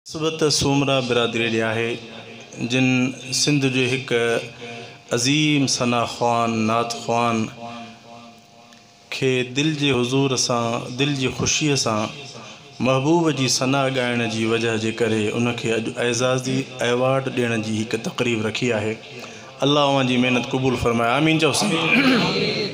نسبت سومرا برادريء ڏي آهي، جن سنڌ جي هڪ عظيم ثنا خوان، نعت خوان، کي دل جي حضور سان، دل جي خوشيء سان، محبوب جي ثنا ڳائڻ جي وجهه جي ڪري ان کي اڄ اعزازي ايوارڊ ڏيڻ جي هڪ تقريب رکي آهي. الله اوهان جي محنت قبول فرمائي. آمين چئو سائين.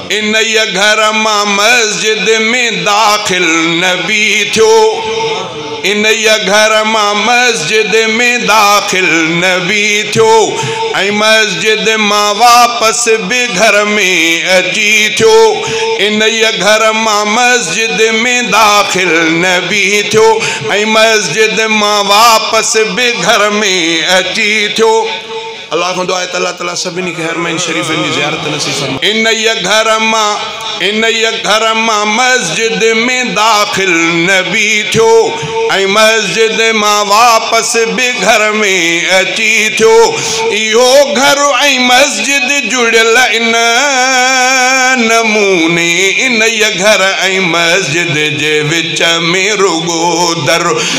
انهيء گهر مان مسجد ۾ داخل نبي ٿيو انهيء گهر مان مسجد ۾ داخل نبي ٿيو ۽ مسجد مان واپس به گهر ۾ اچي ٿيو انهيء گهر مان مسجد ۾ داخل نبي ٿيو ۽ مسجد مان واپس به گهر ۾ اچي ٿيو الله کان دعا آهي ته الله تعالي سڀني کي حرمين شريفين جي زيارت نصيب فرمائي. انهيء گهر مان انهيء گهر مان مسجد ۾ داخل نبي ٿيو ۽ مسجد مان واپس به گهر ۾ اچي ٿيو. اهو گهر ۽ مسجد جڙيل ان نموني انهيء گهر ۽ مسجد جي وچ ۾ رڳو در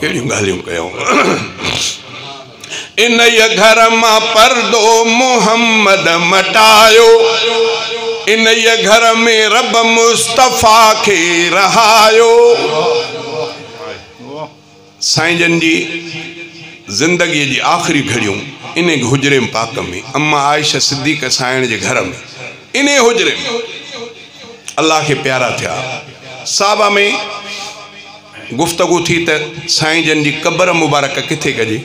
ڪهڙيون ڳالهيون ڪيائون. انهيء گهر مان پردو محمد مٽايو، انهيء گهر ۾ رب مصطفيٰ کي رهايو. سائين جن جي زندگيء جي آخري گهڙيون انهيء حجري پاڪ ۾، اما عائشه صديقه سانئڻ جي گهر ۾، انهيء حجري ۾، الله کي پيارا ٿيا. صاحبه ۾ گفتگو ٿي ته سائين جن جي قبر مبارڪ ڪٿي ڪجي؟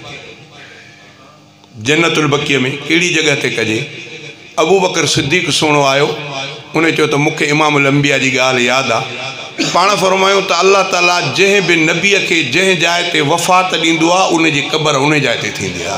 جنت البقيع ۾ ڪهڙي جڳهه تي ڪجي؟ ابوبڪر صديق سهڻو آيو ان چيو ته مونکي امام الانبياء جي ڳالهه ياد آ پاڻ فرمايو ته الله تعالي جنهن به نبيء کي جنهن جاء تي وفات ڏيندو آ ان جي قبر انهي جاء تي ٿيندي آ.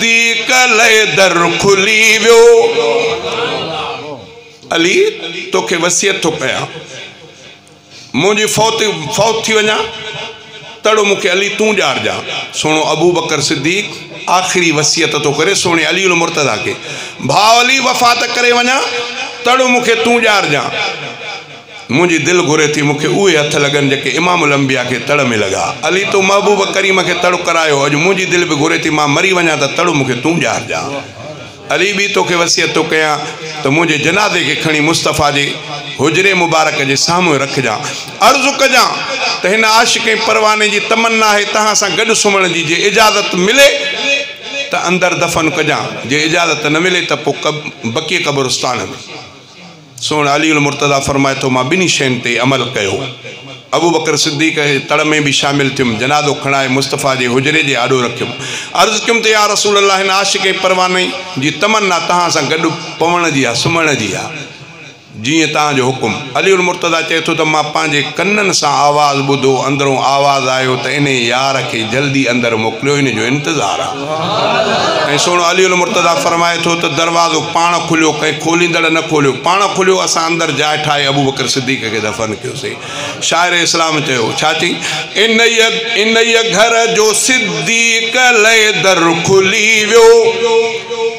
دي ڪلهي در کلي ويو. علي توکي وصيت ٿو ڪيان منهنجي فوت فوت ٿي وڃان تڙو مونکي علي تون ڄارجان سهڻو ابوبڪر صديق آخري وصيت ٿو ڪري سهڻي علي المرتضيٰ کي ڀاء علي وفات ڪري وڃان تڙو مونکي تون ڄارجان منهنجي دل گهري ٿي مون کي اهي هٿ لڳن جيڪي امام الانبياء کي تڙ ۾ لڳا. علي تو محبوب ڪريم کي تڙ ڪرايو اڄ منهنجي دل به گهري ٿي مان مري وڃان ته تڙ مون کي تون ڄارجان. علي ٻي توکي وصيت ٿو ڪيان ته منهنجي جنازي کي کڻي مصطفيٰ جي حجري مبارڪ جي سامهون رکجان. عرض ڪجان ته هن عاشق ۽ پرواني جي تمنا آهي توهان سان گڏ سمهڻ جي جي اجازت ملي ته اندر دفن ڪجان جي اجازت نه ملي ته پوء بقيع قبرستان ۾. سون علي المرتضيٰ فرمائي ٿو، مان ٻنهي شين تي عمل ڪيو. ابوبڪر صديق جي تڙ ۾ به شامل ٿيم، جنازو کڻائي مصطفيٰ جي حجري جي آڏو رکيم. عرض ڪيم ته يا رسول الله هن عاشق ۽ پرواني جي تمنا توهان سان گڏ پوڻ جي آهي، سمهڻ جي آهي. جيئن توهان جو حڪم. علي المرتضيٰ چئي ٿو ته مان پنهنجي ڪنن سان آواز ٻڌو، اندرون آواز آيو ته انهي يار کي جلدي اندر موڪليو، ان جو انتظار آهي. ۽ سهڻو علي المرتضيٰ فرمائي ٿو ته دروازو پاڻ کليو ڪنهن کوليندڙ نه کوليو پاڻ کليو اسان اندر جاء ٺاهي ابوبڪر صديق کي دفن ڪيوسين شاعر اسلام چيو ڇا چي انهيء انهيء گهر جو صديق لئه در کلي ويو